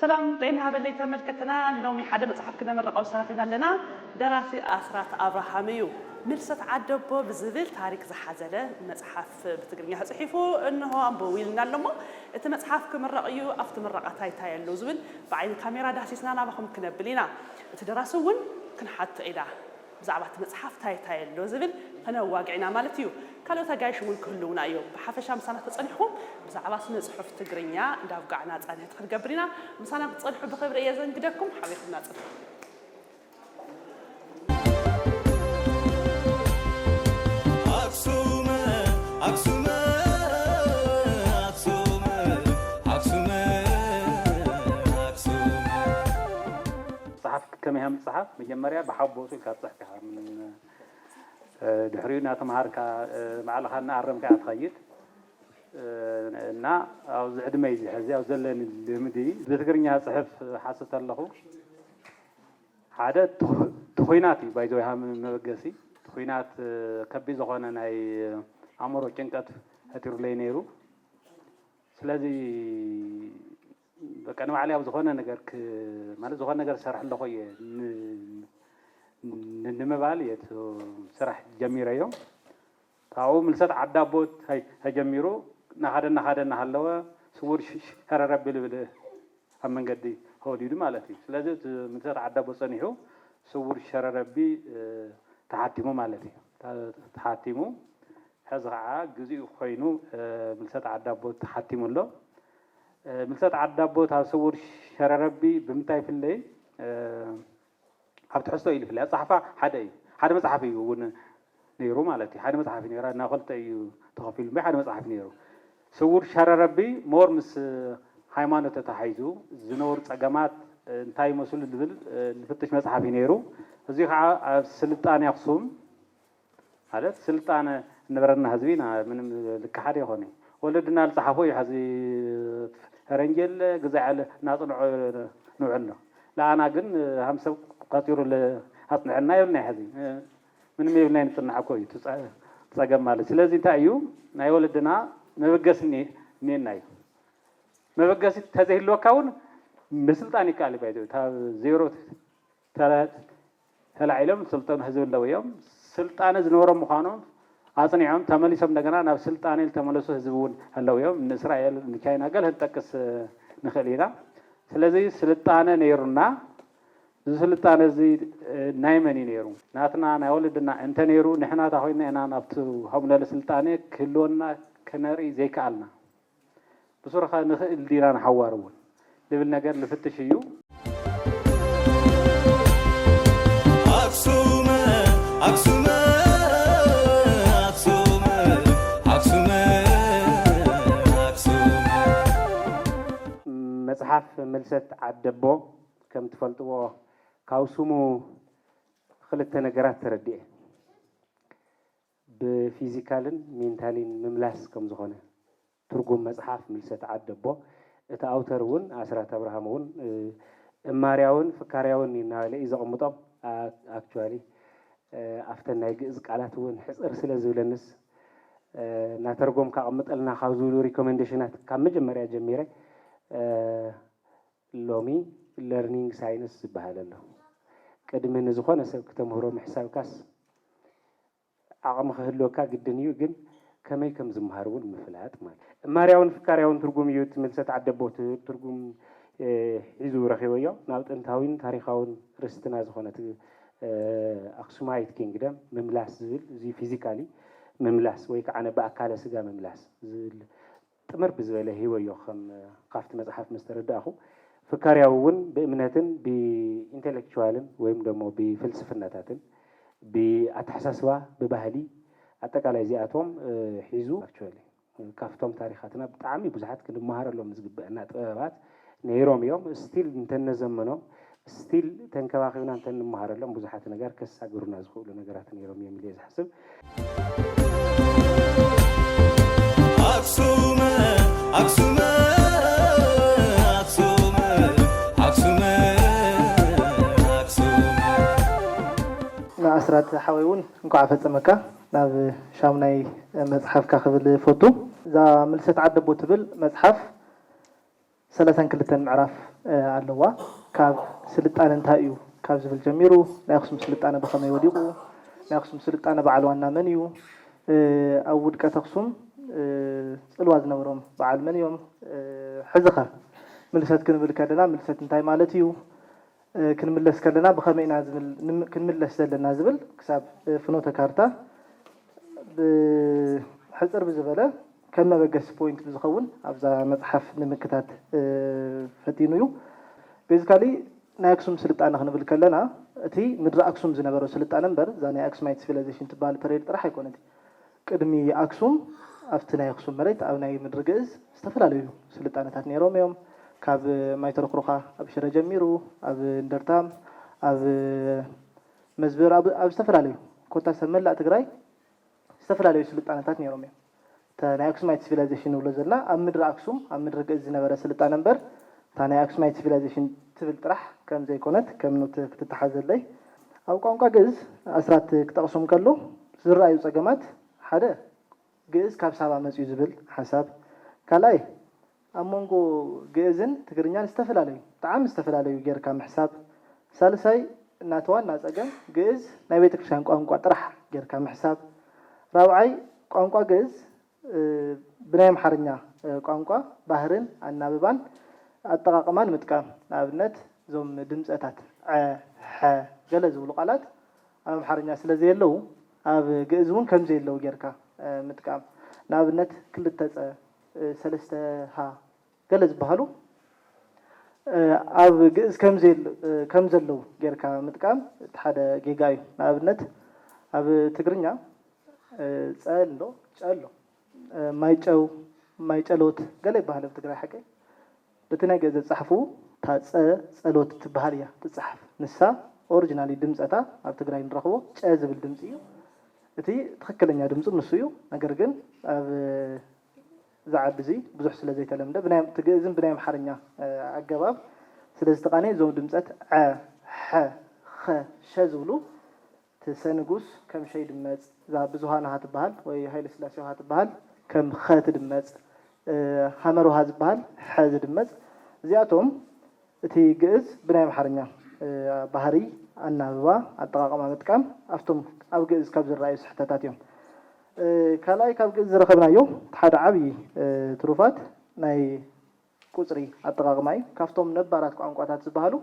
ሰላም ጤና ሃበለይ ተመልከትና ሎሚ ሓደ መጽሓፍ ክነምርቐው ሰራፊና ኣለና ደራሲ ኣስራት ኣብርሃም እዩ ምልሰት ዓደቦ ብዝብል ታሪክ ዝሓዘለ መጽሓፍ። ብትግርኛ ተጽሒፉ እንሆ ኣንብቡ ኢልና ኣሎ እሞ እቲ መጽሓፍ ክምረቕ እዩ ኣብቲ ምረቓ ታይ ታይ ኣሎ ዝብል ብዓይኒ ካሜራ ዳህሲስና ናባኹም ክነብል ኢና እቲ ደራሲ እውን ክንሓቶ ኢና ብዛዕባ እቲ መጽሓፍ ታይ ታይ ኣሎ ዝብል ከነዋግዕ ኢና ማለት እዩ ካልኦት ኣጋይሽ እውን ክህልውና እዮም ብሓፈሻ ምሳና ተጸኒሕኩም ብዛዕባ ስነ ጽሑፍ ትግርኛ እንዳብጋዕና ጻንሒት ክንገብር ኢና ምሳና ክትጸንሑ ብኽብሪ እየ ዘንግደኩም ሓቢርኩምና ጽንሑ። ጸሓፍቲ ከመይ ሃም ዝጸሓፍ መጀመርያ ብሓቦቱ ኢልካ ትጽሕፍ ኢኻ ድሕሪኡ እናተምሃርካ ባዕልኻ እናኣረምካ ኢኻ ትኸይድ እና ኣብዚ ዕድመይ እዚ ሕዚ ኣብ ዘለኒ ልምዲ ብትግርኛ ጽሕፍ ሓስብ ተለኹ ሓደ እቲ ኹናት እዩ ባይዘወይ ሃም መበገሲ እቲ ኹናት ከቢድ ዝኾነ ናይ ኣእምሮ ጭንቀት ፈጢሩለይ ነይሩ ስለዚ በቃ ንባዕለይ ኣብ ዝኾነ ነገር ማለት ዝኾነ ነገር ዝሰርሕ ኣለኹ እየ ንምባል እየ ስራሕ ጀሚረዮ ካብኡ ምልሰት ዓዲ ኣቦ ተጀሚሩ እናኸደ እናኸደ እናሃለወ ስውር ሸረር ኣቢሉ ብልህ ኣብ መንገዲ ተወሊዱ ማለት እዩ። ስለዚ እቲ ምልሰት ዓዲ ኣቦ ፀኒሑ ስውር ሸረር ኣቢ ተሓቲሙ ማለት እዩ። ተሓቲሙ ሕዚ ከዓ ግዚኡ ኮይኑ ምልሰት ዓዲ ኣቦ ተሓቲሙ ኣሎ። ምልሰት ዓዲ ኣቦ ካብ ስውር ሸረር ኣቢ ብምንታይ ይፍለይ? ኣብ ትሕዝቶ ኢሉ ይፍለ ኣጸሓሕፋ ሓደ እዩ ሓደ መጽሓፍ እዩ ውን ነይሩ ማለት እዩ ሓደ መጽሓፍ እዩ ነይሩ እና ክልተ እዩ ተኸፊሉ እምበይ ሓደ መጽሓፍ ነይሩ ስውር ሸረረቢ ሞር ምስ ሃይማኖት ተታሒዙ ዝነበሩ ጸገማት እንታይ ይመስሉ ዝብል ዝፍትሽ መጽሓፍ እዩ ነይሩ እዚ ኸዓ ኣብ ስልጣኔ ኣክሱም ማለት ስልጣነ እንበረና ህዝቢ ኢና ምንም ልካሓድ የኮነይ ወለድና ልፃሓፎ እዩ ሐዚ ፈረንጂ የለ ግዛዕ የለ ናፅንዖ ንውዕል ነው ልኣና ግን ሃም ሰብ ቆፂሩ ኣፅንዐልና የብልናይ ሐዚ ምንም የብልናይ ንፅናዕ እኮ እዩ ትፀገም ማለት ስለዚ እንታይ እዩ ናይ ወለድና መበገሲ እኔና እዩ መበገሲ ተዘይህልወካ እውን ምስልጣን ይካኣል እዩ ባይዘወይ ካብ ዜሮ ተላዒሎም ዝሰልጠኑ ህዝቢ ኣለው እዮም። ስልጣነ ዝነበሮም ምዃኖም ኣፅኒዖም ተመሊሶም እንደገና ናብ ስልጣኔ ዝተመለሱ ህዝቢ እውን ኣለው እዮም። ንእስራኤል ንቻይና ገለ ክንጠቅስ ንኽእል ኢና። ስለዚ ስልጣነ ነይሩና። እዚ ስልጣነ እዚ ናይ መን እዩ ነይሩ? ናትና ናይ ወለድና እንተነይሩ ንሕና እንታይ ኮይንና ኢና ናብቲ ከምኡ ዝበለ ስልጣኔ ክህልወና ክነርኢ ዘይከኣልና? ብሱርኻ ንኽእል ዲና ንሓዋሩ እውን ልብል ነገር ልፍትሽ እዩ። መጽሓፍ ምልሰት ዓደቦ ከም ትፈልጥዎ ካብ ስሙ ኽልተ ነገራት ተረዲኤ። ብፊዚካልን ሜንታሊን ምምላስ ከም ዝኾነ ትርጉም መጽሓፍ ምልሰት ዓድ ኣቦ እቲ ኣውተር እውን ኣስራት ኣብርሃም እውን እማርያውን ፍካርያውን እናበለ እዩ ዘቕምጦም ኣክቹዋሊ ኣብተን ናይ ግእዝ ቃላት እውን ሕጽር ስለ ዝብለንስ እናተርጎምካ ኣቕምጠልና ካብ ዝብሉ ሪኮመንዴሽናት ካብ መጀመርያ ጀሚረ ሎሚ ለርኒንግ ሳይንስ ዝብሃል ኣሎ ቅድሚ ንዝኾነ ሰብ ክተምህሮ ምሕሳብካስ ዓቕሚ ክህልወካ ግድን እዩ ግን ከመይ ከም ዝምሃር እውን ምፍላጥ ማለት እማርያውን ፍካርያውን ትርጉም እዩ እቲ ምልሰት ዓደቦ ትርጉም ሒዙ ረኺበዮ ናብ ጥንታዊን ታሪኻውን ርስትና ዝኾነት ኣክሱማይት ኪንግደም ምምላስ ዝብል እዙይ ፊዚካሊ ምምላስ ወይ ከዓነ ብኣካለ ስጋ ምምላስ ዝብል ጥምር ብዝበለ ህይወዮ ከም ካብቲ መጽሓፍ ምስ ተረዳእኹ፣ ፍካርያዊ እውን ብእምነትን ብኢንተለክቹዋልን ወይም ደሞ ብፍልስፍናታትን፣ ብኣተሓሳስባ፣ ብባህሊ፣ ኣጠቃላይ እዚኣቶም ሒዙ፣ ኣክቹዋሊ ካብቶም ታሪኻትና ብጣዕሚ ብዙሓት ክንመሃረሎም ዝግበእና ጥበባት፣ ነይሮም እዮም እስቲል እንተነዘመኖም እስቲል ተንከባኺብና እንተንመሃረሎም ብዙሓት ነገር ከሳግሩና ዝኽእሉ ነገራት ነይሮም እዮም ኢለ እየ ዝሓስብ። ንኣስራት ሓወይ እውን እንኳዕ ኣፈፀመካ ናብ ሻሙናይ መፅሓፍካ ክብል እፎቱ። እዛ ምልሰት ዓደቦ ትብል መፅሓፍ ሰለሳን ክልተን ምዕራፍ ኣለዋ። ካብ ስልጣነ እንታይ እዩ ካብ ዝብል ጀሚሩ፣ ናይ ኣኽሱም ስልጣነ ብኸመይ ወዲቑ፣ ናይ ኣኽሱም ስልጣነ በዓል ዋና መን እዩ፣ ኣብ ውድቀት ኣኽሱም ፅልዋ ዝነበሮም በዓል መን እዮም፣ ሕዚኸ ምልሰት ክንብል ከለና ምልሰት እንታይ ማለት እዩ፣ ክንምለስ ከለና ብኸመይ ኢና ክንምለስ ዘለና ዝብል ክሳብ ፍኖተ ካርታ ብሕጽር ብዝበለ ከም መበገሲ ፖይንት ብዝኸውን ኣብዛ መጽሓፍ ንምክታት ፈቲኑ እዩ። ቤዚካሊ ናይ ኣክሱም ስልጣነ ክንብል ከለና እቲ ምድረ ኣክሱም ዝነበሮ ስልጣነ እምበር እዛ ናይ ኣክሱማይት ሲቪላይዜሽን ትበሃል ፐሬድ ጥራሕ ኣይኮነትን። ቅድሚ ኣክሱም ኣብቲ ናይ ኣክሱም መሬት ኣብ ናይ ምድሪ ግእዝ ዝተፈላለዩ ስልጣነታት ነይሮም እዮም። ካብ ማይተረኩሩካ ኣብ ሽረ ጀሚሩ ኣብ እንደርታም ኣብ መዝብር ኣብ ኣብ ዝተፈላለዩ ኮታስ ኣብ መላእ ትግራይ ዝተፈላለዩ ስልጣነታት ነይሮም እዮም። እታ ናይ ኣክሱማይት ሲቪላይዜሽን ንብሎ ዘለና ኣብ ምድሪ ኣክሱም ኣብ ምድሪ ግእዝ ዝነበረ ስልጣነ እምበር እታ ናይ ኣክሱማይት ሲቪላይዜሽን ትብል ጥራሕ ከም ዘይኮነት ከም ኖት ክትተሓዘለይ ኣብ ቋንቋ ግእዝ ኣስራት ክጠቕሶም ከሎ ዝረኣዩ ጸገማት፣ ሓደ ግእዝ ካብ ሳባ መጺኡ ዝብል ሓሳብ፣ ካልኣይ ኣብ መንጎ ግእዝን ትግርኛን ዝተፈላለዩ፣ ብጣዕሚ ዝተፈላለዩ ጌርካ ምሕሳብ፣ ሳልሳይ ናቲ ዋና ጸገም ግእዝ ናይ ቤተክርስትያን ቋንቋ ጥራሕ ጌርካ ምሕሳብ፣ ራብዓይ ቋንቋ ግእዝ ብናይ ኣምሓርኛ ቋንቋ ባህርን ኣናብባን ኣጠቓቕማን ምጥቃም። ንኣብነት እዞም ድምፀታት ዐ፣ ሐ ገለ ዝብሉ ቃላት ኣብ ኣምሓርኛ ስለዘየለዉ ኣብ ግእዝ እውን ከምዘየለዉ ገይርካ ምጥቃም። ንኣብነት ክልተ ፀ፣ ሰለስተ ሃ። ገለ ዝበሃሉ ኣብ ግእዝ ከም ዘለዉ ጌርካ ምጥቃም እቲ ሓደ ጌጋ እዩ። ንኣብነት ኣብ ትግርኛ ፀ ኣሎ ጨ ኣሎ። ማይጨው፣ ማይጨሎት ገለ ይበሃል ኣብ ትግራይ ሓቀይ? በቲ ናይ ግእዝ ኣፀሓሕፍኡ እታ ፀ ፀሎት እትበሃል እያ ትፀሓፍ። ንሳ ኦርጅናሊ ድምፀታ ኣብ ትግራይ ንረኽቦ ጨ ዝብል ድምፂ እዩ። እቲ ትኽክለኛ ድምፁ ንሱ እዩ። ነገር ግን ኣብ። እዚ ዓዲ እዚ ብዙሕ ስለ ዘይተለምደ ብናይ ትግእዝን ብናይ ኣምሓርኛ ኣገባብ ስለ ዝተቃነየ እዞም ድምጸት ዐ፣ ሐ፣ ኸ፣ ሸ ዝብሉ እቲ ሰ ንጉስ ከም ሸ ይድመጽ፣ እዛ ብዙሃንሃ ትበሃል ወይ ሃይለስላሴውሃ ትበሃል ከም ኸ ትድመጽ፣ ሃመርውሃ ዝበሃል ሐ ዝድመጽ እዚኣቶም እቲ ግእዝ ብናይ ኣምሓርኛ ባህርይ ኣናብባ ኣጠቃቅማ ምጥቃም ኣብቶም ኣብ ግእዝ ካብ ዝረኣዩ ስሕተታት እዮም። ካልኣይ ካብ ግእዝ ዝረኸብናዮ እቲ ሓደ ዓብዪ ትሩፋት ናይ ቁፅሪ ኣጠቓቕማ እዩ። ካብቶም ነባራት ቋንቋታት ዝበሃሉ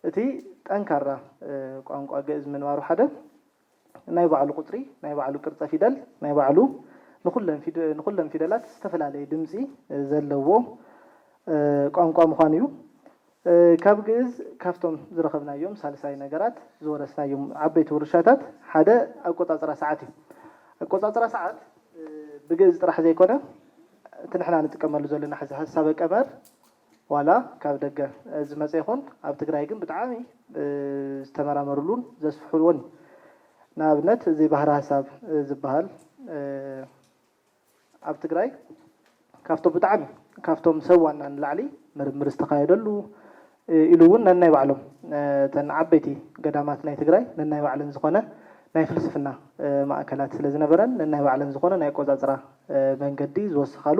እቲ ጠንካራ ቋንቋ ግእዝ ምንባሩ ሓደ ናይ ባዕሉ ቁፅሪ፣ ናይ ባዕሉ ቅርፀ ፊደል፣ ናይ ባዕሉ ንኹለን ፊደላት ዝተፈላለየ ድምፂ ዘለዎ ቋንቋ ምዃኑ እዩ። ካብ ግእዝ ካብቶም ዝረኸብናዮም ሳልሳይ ነገራት፣ ዝወረስናዮም ዓበይቲ ውርሻታት ሓደ ኣቆጻጽራ ሰዓት እዩ። ኣቆጻጽራ ሰዓት ብግእዝ ጥራሕ ዘይኮነ እቲ ንሕና ንጥቀመሉ ዘለና ሕዚ ሐሳበ ቀመር ዋላ ካብ ደገ ዝመጸ ይኹን ኣብ ትግራይ ግን ብጣዕሚ ዝተመራመርሉን ዘስፍሕዎን እዩ። ንኣብነት እዚ ባህረ ሐሳብ ዝበሃል ኣብ ትግራይ ካብቶም ብጣዕሚ ካብቶም ሰብ ዋና ንላዕሊ ምርምር ዝተኻየደሉ ኢሉ እውን ነናይ ባዕሎም እተን ዓበይቲ ገዳማት ናይ ትግራይ ነናይ ባዕለን ዝኾነ ናይ ፍልስፍና ማእከላት ስለ ዝነበረን ነናይ ባዕለን ዝኾነ ናይ ኣቆፃፅራ መንገዲ ዝወሰኻሉ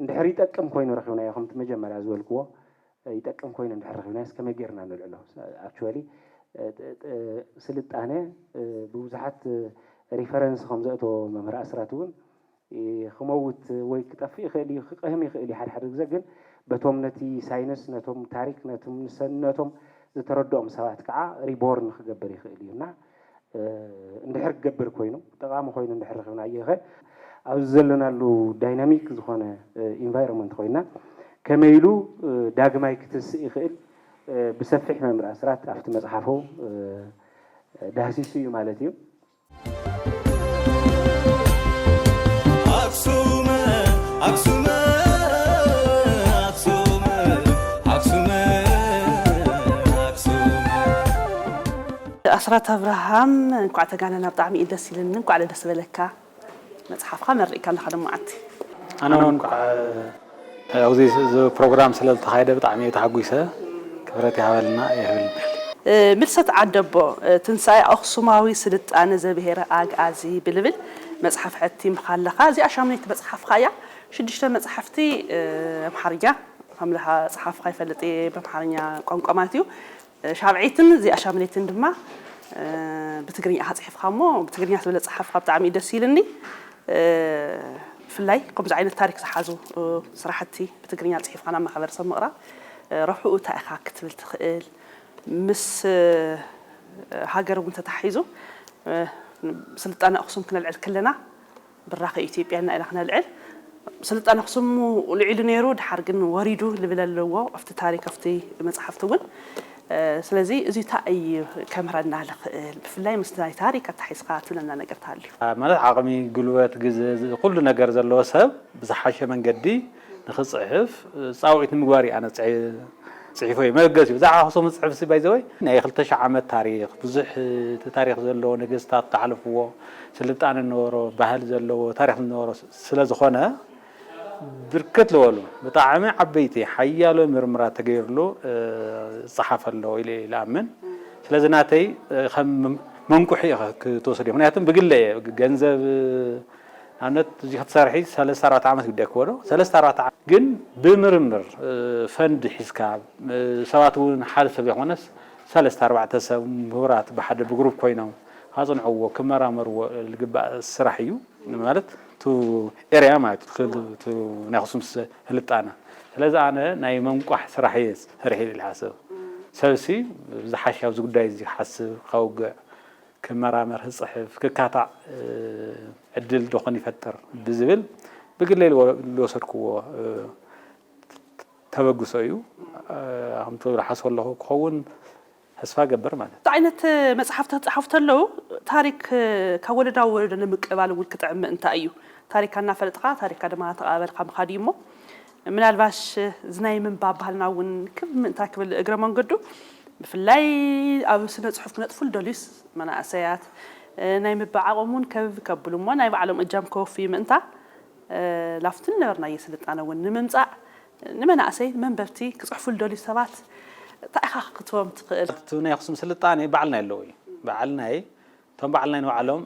እንድሕር ይጠቅም ኮይኑ ረኺብናዮ ከምቲ መጀመርያ ዝበልክዎ ይጠቅም ኮይኑ እንድሕር ረኺብናዮስ ከመይ ጌርና ነልዕሎ ኣክቹዋሊ ስልጣነ ብብዙሓት ሪፈረንስ ከም ዘእተዎ መምህር ኣስራት እውን ክመውት ወይ ክጠፍእ ይኽእል እዩ ክቀህም ይኽእል እዩ ሓድሓደ ግዘ ግን በቶም ነቲ ሳይንስ ነቶም ታሪክ ነቶም ንሰነቶም ዝተረድኦም ሰባት ከዓ ሪቦርን ክገብር ይኽእል እዩ እና እንድሕር ክገብር ኮይኑ፣ ጠቓሚ ኮይኑ እንድሕር ረኺብናዮኸ? ኣብዚ ዘለናሉ ዳይናሚክ ዝኾነ ኢንቫይሮመንት ኮይና ከመይ ኢሉ ዳግማይ ክትስእ ይኽእል ብሰፊሕ መምህር ኣስራት ኣብቲ መጽሓፉ ዳህሲሱ እዩ ማለት እዩ። ኣስራት ኣብርሃም እንኳዕ ተጋነና ብጣዕሚ እዩ ደስ ኢልኒ እንኳዕ ለደስ በለካ መፅሓፍካ መሪቅካ ኣለካ ሎም መዓልቲ። ኣነ ውን እንኳዕ ኣብዚ ፕሮግራም ስለ ዝተኻየደ ብጣዕሚ እየ ተሓጒሰ ክብረት ይሃበልና ይሀብልናል። ምልሰት ዓደቦ ትንሳኤ ኣኽሱማዊ ስልጣነ ዘብሄረ ኣግኣዚ ብልብል መጽሓፍ ሐቲምካ ኣለኻ እዚኣ ሻሙነይቲ መጽሓፍኻ እያ ሽዱሽተ መጽሓፍቲ ኣምሓርኛ ከምዝጸሓፍኻ ይፈልጥ እየ ብኣምሓርኛ ቋንቋ ማለት እዩ ሻብዐይትን እዚኣ ሻምነይትን ድማ ብትግርኛ ኢኻ ጽሒፍካ እሞ ብትግርኛ ስለ ዝጸሓፍካ ብጣዕሚ እዩ ደስ ኢልኒ ብፍላይ ከምዚ ዓይነት ታሪክ ዝሓዙ ስራሕቲ ብትግርኛ ጽሒፍካ ናብ ማሕበረሰብ ምቕራብ ረብሕኡ እንታይ ኢኻ ክትብል ትኽእል ምስ ሃገር እውን ተተሓሒዙ ስልጣነ ኣኽሱም ክነልዕል ከለና ብራኸ ኢትዮጵያና ኢልና ክነልዕል ስልጣን ኣክሱም ልዒሉ ነይሩ ድሓር ግን ወሪዱ ልብል ኣለዎ ኣብቲ ታሪክ ኣብቲ መፅሓፍቲ እውን ስለዚ እዚ ታይ እዩ ከምህረና ልኽእል ብፍላይ ምስ ናይ ታሪክ ኣታሒዝኻ ትብለና ነገር ተሃልዩ። ማለት ዓቕሚ፣ ጉልበት፣ ግዘ፣ ኩሉ ነገር ዘለዎ ሰብ ብዝሓሸ መንገዲ ንኽጽሕፍ ጻውዒት ንምግባር እዩ ኣነ ጽሒፈዮ። መበገሲኡ ብዛዕባ ኣኽሱም ዝጽሕፍሲ ባይ ዘ ወይ ናይ ክልተ ሽሕ ዓመት ታሪኽ ብዙሕ ታሪኽ ዘለዎ ነገስታት ዝሓለፍዎ ስልጣነ ዝነበሮ ባህሊ ዘለዎ ታሪኽ ዝነበሮ ስለ ዝኾነ ብርክት ዝበሉ ብጣዕሚ ዓበይቲ ሓያሎ ምርምራት ተገይርሉ ዝጸሓፈ ኣሎ ኢለ እየ ዝኣምን። ስለዚ ናተይ ከም መንቁሒ ክትወስድዮ ምክንያቱ ብግለ እየ ገንዘብ ንኣብነት እዚ ክትሰርሒ ሰለስተ ኣርባዕተ ዓመት ግዳይ ክኮኖ ሰለስተ ኣርባዕተ ዓመት ግን ብምርምር ፈንድ ሒዝካ ሰባት እውን ሓደ ሰብ ዘይኮነስ ሰለስተ ኣርባዕተ ሰብ ምሁራት ብሓደ ብግሩፕ ኮይኖም ካጽንዕዎ ክመራመርዎ ዝግባእ ስራሕ እዩ ማለት እቲ ኤርያ ማለት እቲ ናይ ኣክሱም ስልጣነ ስለዚ ኣነ ናይ መንቋሕ ስራሕ እየ ሰሪሐ ኢለ ዝሓስብ ሰብሲ ዝሓሸ ኣብዚ ጉዳይ እዚ ክሓስብ ከውግዕ ክመራመር፣ ክጽሕፍ፣ ክካታዕ ዕድል ዶኾን ይፈጥር ብዝብል ብግለይ ዝወሰድኩዎ ተበግሶ እዩ። ከምቲ ዝሓስቦ ዘለኹ ክኸውን ተስፋ እገብር ማለት እዩ። እንታይ ዓይነት መጽሓፍቲ ክጸሓፉ ተለዉ ታሪክ ካብ ወለዶ ናብ ወለዶ ንምቅብባል እውን ክጥዕም ምእንታ እዩ። ታሪካ እናፈለጥኻ ታሪካ ድማ እናተቐባበልካ ምኻድ እዩ እሞ፣ ምናልባሽ እዚ ናይ ምንባብ ባህልና እውን ክብ ምእንታ ክብል እግረ መንገዱ ብፍላይ ኣብ ስነ ፅሑፍ ክነጥፉ ልደልዩስ መናእሰያት ናይ ምባእ ዓቕሞም እውን ከብ ከብሉ እሞ ናይ ባዕሎም እጃም ከወፍዩ ምእንታ ላፍቲ ንነበርናዮ ስልጣነ እውን ንምምፃእ ንመናእሰይ መንበብቲ ክፅሕፉ ልደልዩ ሰባት ታይ ኢኻ ክክትቦም ትኽእል? እቲ ናይ ኣኽሱም ስልጣኔ ባዕልናይ ኣለዎ እዩ። ባዕልናይ እቶም በዓል ናይ ንባዕሎም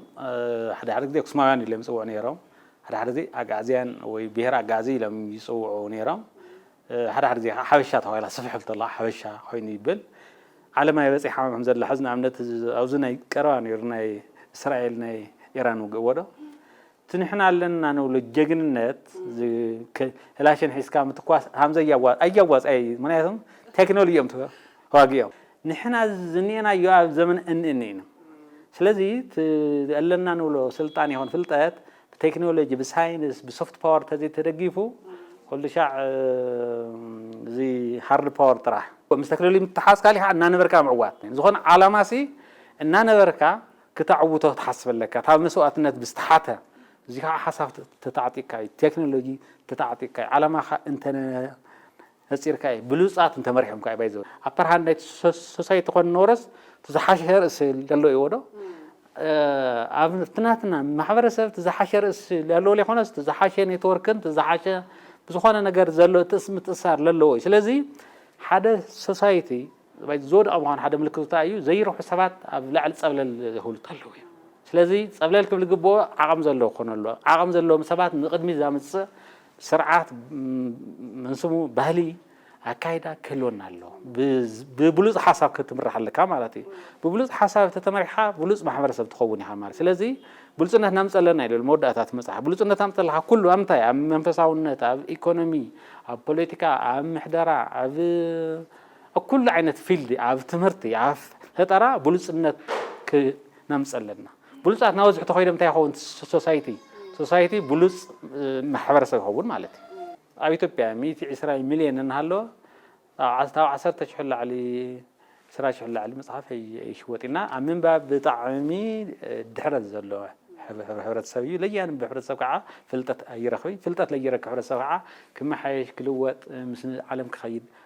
ሓደ ሓደ ግዜ ኣክሱማውያን ኢሎም ይጽውዑ ነይሮም፣ ሓደ ሓደ ግዜ ኣግኣዝያን ወይ ብሄር ኣግኣዚ ኢሎም ይጽውዑ ነይሮም፣ ሓደ ሓደ ግዜ ከኣ ሓበሻ ተባሂላ ስፍሕ ክብል ከለዋ ሓበሻ ኮይኑ ይብል። ዓለም ኣይበጺሓ ከም ዘላ ሕዚ ንኣብነት ኣብዚ ናይ ቀረባ ነይሩ ናይ እስራኤል ናይ ኢራን ውግእ እዎዶ እቲ ንሕና ኣለና ንብሎ ጀግንነት ክላሽን ሒዝካ ምትኳስ ሃምዘይ ኣያዋጻይ እዩ ምክንያቱም ቴክኖሊ እዮም ተዋጊኦም ንሕና ዝኔናዮ ኣብ ዘመን እንእኒ ኢና ስለዚ እቲ ኣለና ንብሎ ስልጣን ይኹን ፍልጠት ብቴክኖሎጂ ብሳይንስ ብሶፍት ፓወር ተዘይ ተደጊፉ ኩሉ ሻዕ እዚ ሃርድ ፓወር ጥራሕ ምስ ቴክኖሎጂ ምትሓዝካ ሊካ እናነበርካ ምዕዋት ዝኾነ ዓላማሲ እናነበርካ ክተዕውቶ ክትሓስብ ኣለካ እታ መስዋእትነት ብዝተሓተ እዚ ካዓ ሓሳብ ተታዕጢቅካ እዩ ቴክኖሎጂ ተታዕጢቅካ እዩ ዓላማካ እንተነፂርካ እዩ ብሉፃት እንተመሪሖምካ እዩ ባይዘወይ ኣፐር ሃንድ ናይቲ ሶሳይቲ ኮን ኖረስ እቲ ዝሓሸ ርእሲ ለሎ እዩዎ ዶ ኣብቲ ናትና ማሕበረሰብ እቲ ዝሓሸ ርእሲ ለሎ ዘይኮነስ እቲ ዝሓሸ ኔትወርክን እቲ ዝሓሸ ብዝኾነ ነገር ዘሎ እቲ ምትእስሳር ለለዎ እዩ ስለዚ ሓደ ሶሳይቲ ባይ ዝወድቐ ምዃኑ ሓደ ምልክቱ እንታይ እዩ? ዘይረብሑ ሰባት ኣብ ላዕሊ ጸብለል ዝብሉ እንተለዉ እዩ። ስለዚ ጸብለል ክብል ዝግብኦ ዓቐም ዘለዎ ክኾን ኣለዎ። ዓቐም ዘለዎም ሰባት ንቕድሚት ዘምጽእ ስርዓት፣ መን ስሙ ባህሊ፣ ኣካይዳ ክህልወና ኣለዎ። ብብሉጽ ሓሳብ ክትምራሕ ኣለካ ማለት እዩ። ብብሉጽ ሓሳብ እንተተመሪሕካ ብሉጽ ማሕበረሰብ ትኸውን ኢኻ ማለት እዩ። ስለዚ ብሉጽነት ናምጽእ ኣለና ኢሉ መወዳእታ እቲ መጽሓፍ። ብሉጽነት ኣምጽእ ኣለካ ኩሉ ኣብ ምንታይ? ኣብ መንፈሳውነት፣ ኣብ ኢኮኖሚ፣ ኣብ ፖለቲካ፣ ኣብ ምሕደራ፣ ኣብ ኣብ ኩሉ ዓይነት ፊልድ ኣብ ትምህርቲ ኣብ ፈጠራ ብሉጽነት ክነምጽእ ኣለና ብሉጻት ናበዝሑ ተኾይኖም እንታይ ይኸውን ሶሳይቲ ሶሳይቲ ብሉጽ ማሕበረሰብ ይኸውን ማለት እዩ ኣብ ኢትዮጵያ ሚእቲ ዕስራ ሚልዮን እናሃለወ ኣብ ካብ ዓሰርተ ሽሕ ላዕሊ ዕስራ ሽሕ ላዕሊ መጽሓፍ ኣይሽወጥ እና ኣብ ምንባብ ብጣዕሚ ድሕረት ዘሎ ሕብረተሰብ እዩ ለያንም ብሕብረተሰብ ከዓ ፍልጠት ኣይረኽብይ ፍልጠት ለይረክብ ሕብረተሰብ ከዓ ክመሓየሽ ክልወጥ ምስ ዓለም ክኸይድ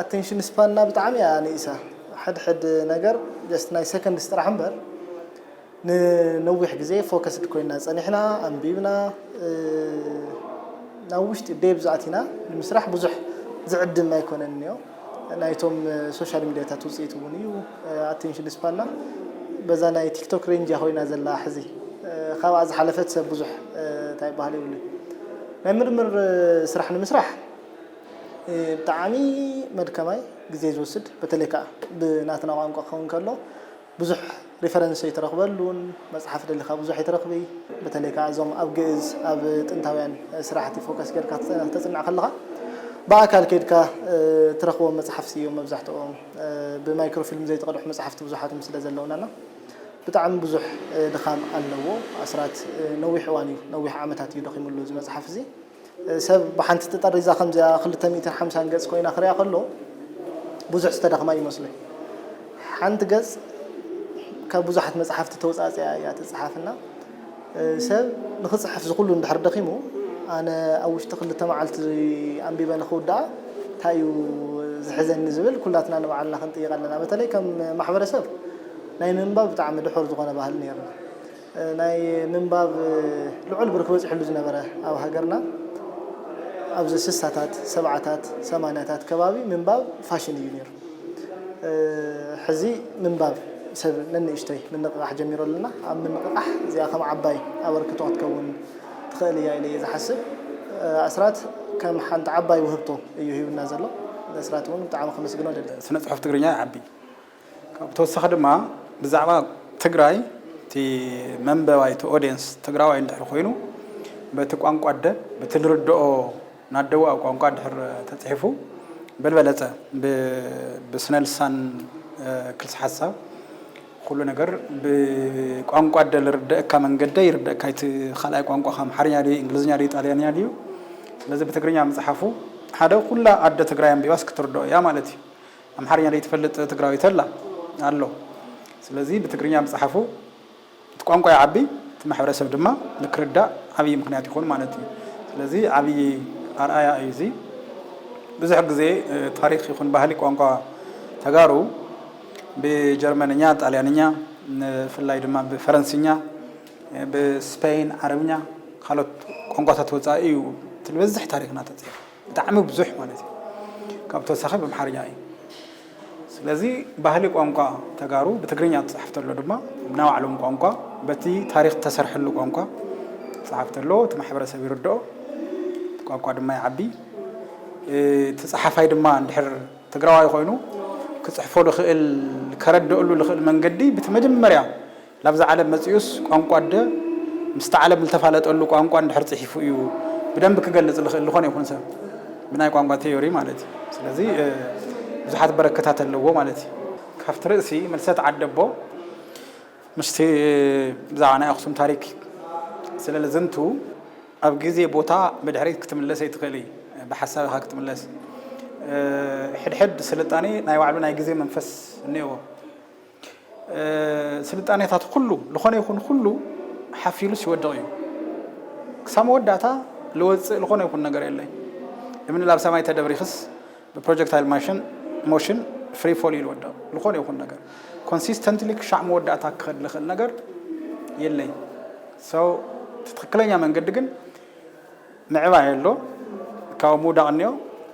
ኣተንሽን ስፓንና ብጣዕሚ እያ ንኢሳ ሕድሕድ ነገር ጀስት ናይ ሰከንድስ ጥራሕ እምበር ንነዊሕ ግዜ ፎከስድ ኮይና ጸኒሕና ኣንቢብና ናብ ውሽጢ ዴብዝ ኣቲና ንምስራሕ ብዙሕ ዝዕድም ኣይኮነን እዮ ናይቶም ሶሻል ሚዲያታት ውጽኢት እውን እዩ ኣቴንሽን ስፓንና በዛ ናይ ቲክቶክ ሬንጅ እያ ኮይና ዘላ ሕዚ ካብኣ ዝሓለፈት ሰብ ብዙሕ እንታይ ይበሃል የብሉን ናይ ምርምር ስራሕ ንምስራሕ ብጣዕሚ መድከማይ ግዜ ዝወስድ በተለይ ከኣ ብናትና ቋንቋ ክኸውን ከሎ ብዙሕ ሪፈረንስ ኣይትረኽበሉን መጽሓፍ ደሊኻ ብዙሕ ኣይትረኽቢ በተለይ ከኣ እዞም ኣብ ግእዝ ኣብ ጥንታውያን ስራሕቲ ፎከስ ጌርካ ክተጽንዕ ከለኻ ብኣካል ከይድካ ትረኽቦም መጽሓፍቲ እዮም መብዛሕትኦም ብማይክሮ ፊልም ዘይተቐድሑ መጽሓፍቲ ብዙሓትም ስለ ዘለውናና ብጣዕሚ ብዙሕ ድኻም ኣለዎ ኣስራት ነዊሕ እዋን እዩ ነዊሕ ዓመታት እዩ ደኺምሉ እዚ መጽሓፍ እዚ ሰብ ብሓንቲ ተጠሪዛ ከምዚኣ ክልተ ሚእትን ሓምሳን ገጽ ኮይና ክሪኣ ከሎ ብዙሕ ዝተዳኽማ ይመስሎ እዩ። ሓንቲ ገጽ ካብ ብዙሓት መጽሓፍቲ ተወጻጺኣ እያ ትጽሓፍ እና ሰብ ንኽጽሕፍ ዝኹሉ እንድሕር ደኺሙ ኣነ ኣብ ውሽጢ ክልተ መዓልቲ ኣንቢበ ንኽውድኣ እንታይ እዩ ዝሕዘኒ ዝብል ኩላትና ንባዕልና ክንጥይቕ ኣለና። በተለይ ከም ማሕበረሰብ ናይ ምንባብ ብጣዕሚ ድሑር ዝኾነ ባህሊ ነይርና። ናይ ምንባብ ልዑል ብርኪ በፂሕሉ ዝነበረ ኣብ ሃገርና ኣብዚ ስሳታት፣ ሰብዓታት፣ ሰማንያታት ከባቢ ምንባብ ፋሽን እዩ ነይሩ። ሕዚ ምንባብ ሰብ ነንእሽተይ ምንቕቓሕ ጀሚሩ ኣለና። ኣብ ምንቕቓሕ እዚኣ ከም ዓባይ ኣበርክቶ ክትከውን ትኽእል እያ ኢለ እየ ዝሓስብ። ኣስራት ከም ሓንቲ ዓባይ ውህብቶ እዩ ሂቡና ዘሎ። ንኣስራት እውን ብጣዕሚ ከመስግኖ እደሊ። ስነ ፅሑፍ ትግርኛ ይዓቢ፣ ካብ ብተወሳኺ ድማ ብዛዕባ ትግራይ እቲ መንበባይ እቲ ኦድየንስ ትግራዋይ እንድሕር ኮይኑ በቲ ቋንቋ ኣደ በቲ ልርድኦ ናደዋኡ ቋንቋ እንድሕር ተፅሒፉ በልበለፀ ብስነ ልሳን ክልሰ ሓሳብ ኩሉ ነገር ብቋንቋ ኣደ ልርደእካ መንገደ ይርደእካ እቲ ካልኣይ ቋንቋኻ ኣምሓርኛ ድዩ እንግሊዝኛ ድዩ ጣልያንኛ ድዩ ስለዚ ብትግርኛ ምፅሓፉ ሓደ ኩላ ኣደ ትግራይ ኣንቢባስ ክትርድኦ እያ ማለት እዩ ኣምሓርኛ ደይትፈልጥ ትግራዊ ተላ ኣሎ ስለዚ ብትግርኛ ምጽሓፉ እቲ ቋንቋ ይዓቢ እቲ ማሕበረሰብ ድማ ንክርዳእ ዓብይ ምክንያት ይኮን ማለት እዩ ስለዚ ዓብይ ኣርኣያ እዩ እዚ ብዙሕ ግዜ ታሪክ ይኩን ባህሊ ቋንቋ ተጋሩ ብጀርመንኛ ጣልያንኛ ንፍላይ ድማ ብፈረንስኛ ብስፐይን ዓረብኛ ካልኦት ቋንቋታት ወጻኢ እዩ እቲ ልበዝሕ ታሪክና ተጽሒፉ። ብጣዕሚ ብዙሕ ማለት እዩ ካብ ተወሳኺ ብምሓርኛ እዩ ስለዚ ባህሊ ቋንቋ ተጋሩ ብትግርኛ ትፅሓፍ ተሎ ድማ ብናይ ባዕሎም ቋንቋ በቲ ታሪክ ተሰርሐሉ ቋንቋ ትፅሓፍ ተሎ እቲ ማሕበረሰብ ይርድኦ ቋንቋ ድማ ይዓቢ እቲ ፀሓፋይ ድማ እንድሕር ትግራዋይ ኮይኑ ክፅሕፎ ልኽእል ከረድእሉ ልኽእል መንገዲ ብቲ መጀመርያ ናብዛ ዓለም መጺኡስ ቋንቋ ኣደ ምስታ ዓለም ዝተፋለጠሉ ቋንቋ እንድሕር ጽሒፉ እዩ ብደንቢ ክገልጽ ዝኽእል ዝኾነ ይኹን ሰብ ብናይ ቋንቋ ቴዮሪ ማለት እዩ። ስለዚ ብዙሓት በረከታት ኣለዎ ማለት እዩ። ካብቲ ርእሲ ምልሰት ዓደቦ ምስቲ ብዛዕባ ናይ ኣኽሱም ታሪክ ስለ ልዝንቱ ኣብ ግዜ ቦታ ብድሕሪት ክትምለስ ኣይትኽእልይ ብሓሳብ ኢኻ ክትምለስ ሕድሕድ ስልጣኔ ናይ ባዕሉ ናይ ግዜ መንፈስ እኔዎ። ስልጣኔታት ኩሉ ልኾነ ይኹን ኩሉ ሓፊሉ ሲወድቕ እዩ ክሳብ መወዳእታ ልወፅእ ልኾነ ይኹን ነገር የለይ እምኒ ላብ ሰማይ ተደብሪኽስ ብፕሮጀክታይል ማሽን ሞሽን ፍሪ ፎል እዩ ልወድቕ ልኾነ ይኹን ነገር ኮንሲስተንትሊ ክሻዕ መወዳእታ ክኸድ ልኽእል ነገር የለይ ሰው ትክክለኛ መንገዲ ግን ምዕባይ ኣሎ ካብ ምውዳቕ እኒኦ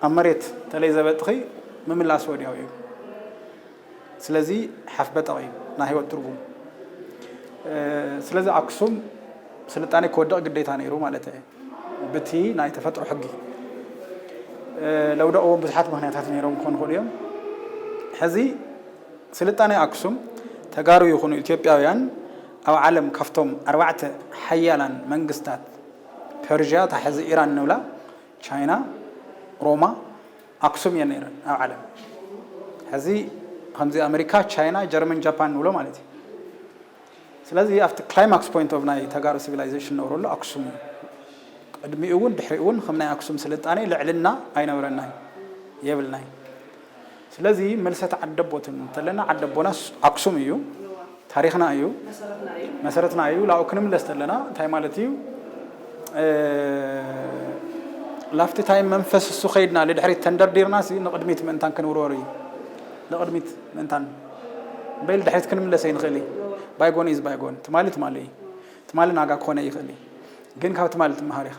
ኣብ መሬት ተለይ ዘበጥኺ ምምላስ ወዲያው እዩ ስለዚ ሓፍበጠቕ እዩ ናይ ህይወት ትርጉም ስለዚ ኣክሱም ስልጣኔ ክወድቕ ግዴታ ነይሩ ማለት እየ ብቲ ናይ ተፈጥሮ ሕጊ ለውደቕዎም ብዙሓት ምክንያታት ነይሮም ክኾኑ ይኽእሉ እዮም ሕዚ ስልጣኔ ኣክሱም ተጋሩ ይኹኑ ኢትዮጵያውያን ኣብ ዓለም ካብቶም ኣርባዕተ ሓያላን መንግስታት ፐርዥያ ታሕዚ ኢራን ንብላ ቻይና ሮማ ኣክሱም እየን ነይረን ኣብ ዓለም ሕዚ ከምዚ ኣመሪካ ቻይና ጀርመን ጃፓን ንብሎ ማለት እዩ ስለዚ ኣብቲ ክላይማክስ ፖይንት ኦፍ ናይ ተጋሩ ሲቪላይዜሽን ነብረሉ ኣክሱም እዩ ቅድሚኡ እውን ድሕሪኡ እውን ከም ናይ ኣክሱም ስልጣኔ ልዕልና ኣይነበረናይ የብልናይ ስለዚ መልሰት ዓደቦትን እንተለና ዓደቦናስ ኣክሱም እዩ ታሪኽና እዩ መሰረትና እዩ ላብኡ ክንምለስ ተለና እንታይ ማለት እዩ ላፍቲ ታይ መንፈስ እሱ ከይድና ልድሕሪት ተንደርዲርና ሲ ንቕድሚት ምእንታን ክንውርወር እዩ ንቕድሚት ምእንታን በይል ድሕሪት ክንምለስ ኣይንኽእል እዩ ባይጎን ኢዝ ባይጎን ትማሊ ትማሊ እዩ ትማሊ ናጋ ክኾነ ይኽእል እዩ ግን ካብ ትማሊ ትመሃር ኢኻ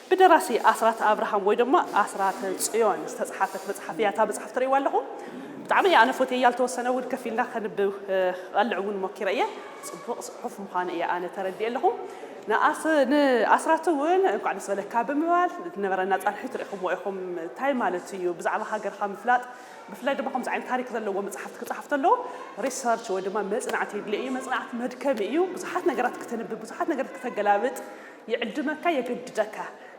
ብደራሲ ኣስራት ኣብርሃም ወይ ድማ ኣስራተ ጽዮን ዝተጽሓፈት መጽሓፍ እያ እታ መጽሓፍ ትርእይዋ ኣለኹም ብጣዕሚ እያ ኣነ ፎትየያ ልተወሰነ እውን ከፍ ኢልና ከንብብ ክቐልዕ እውን ሞኪረ እየ ጽቡቕ ጽሑፍ ምዃኑ እየ ኣነ ተረዲኤ ኣለኹ ንኣስራት እውን እንኳዕ ደስ በለካ ብምባል ዝነበረና ጻንሒት ርኢኹምዎ ኢኹም እንታይ ማለት እዩ ብዛዕባ ሃገርካ ምፍላጥ ብፍላይ ድማ ከምዚ ዓይነት ታሪክ ዘለዎ መጽሓፍቲ ክጽሓፍ ተሎ ሪሰርች ወይ ድማ መጽናዕቲ የድልዮ እዩ መጽናዕቲ መድከሚ እዩ ብዙሓት ነገራት ክተንብብ ብዙሓት ነገራት ክተገላብጥ ይዕድመካ የገድደካ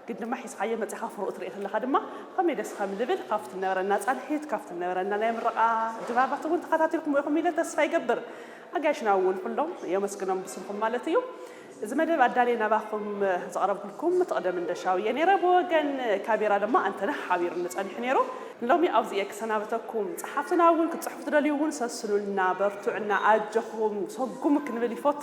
ግን ድማ ሒዝኻዮ መጺኻ ፍሩኡ ትርኢ ከለኻ ድማ ከመይ ደስ ከም ልብል ካብቲ ነበረና ጻንሒት ካብቲ ነበረና ናይ ምርቓ ድራራት እውን ተኻታቲልኩሞ ኢኹም ኢለ ተስፋ ይገብር ኣጋይሽና እውን ኩሎም የመስግኖም ብስምኹም ማለት እዩ እዚ መደብ ኣዳልየ ናባኹም ዘቕረብኩልኩም ትቕደም እንደሻው እየ ነይረ ብወገን ካቤራ ድማ ኣንተነህ ሓቢሩኒ ጸኒሑ ነይሩ ንሎሚ ኣብዚ እየ ክሰናበተኩም ጸሓፍትና እውን ክትጽሕፉ ትደልዩ እውን ሰስኑልና በርቱዕና ኣጀኹም ሰጉሙ ክንብል ይፈቱ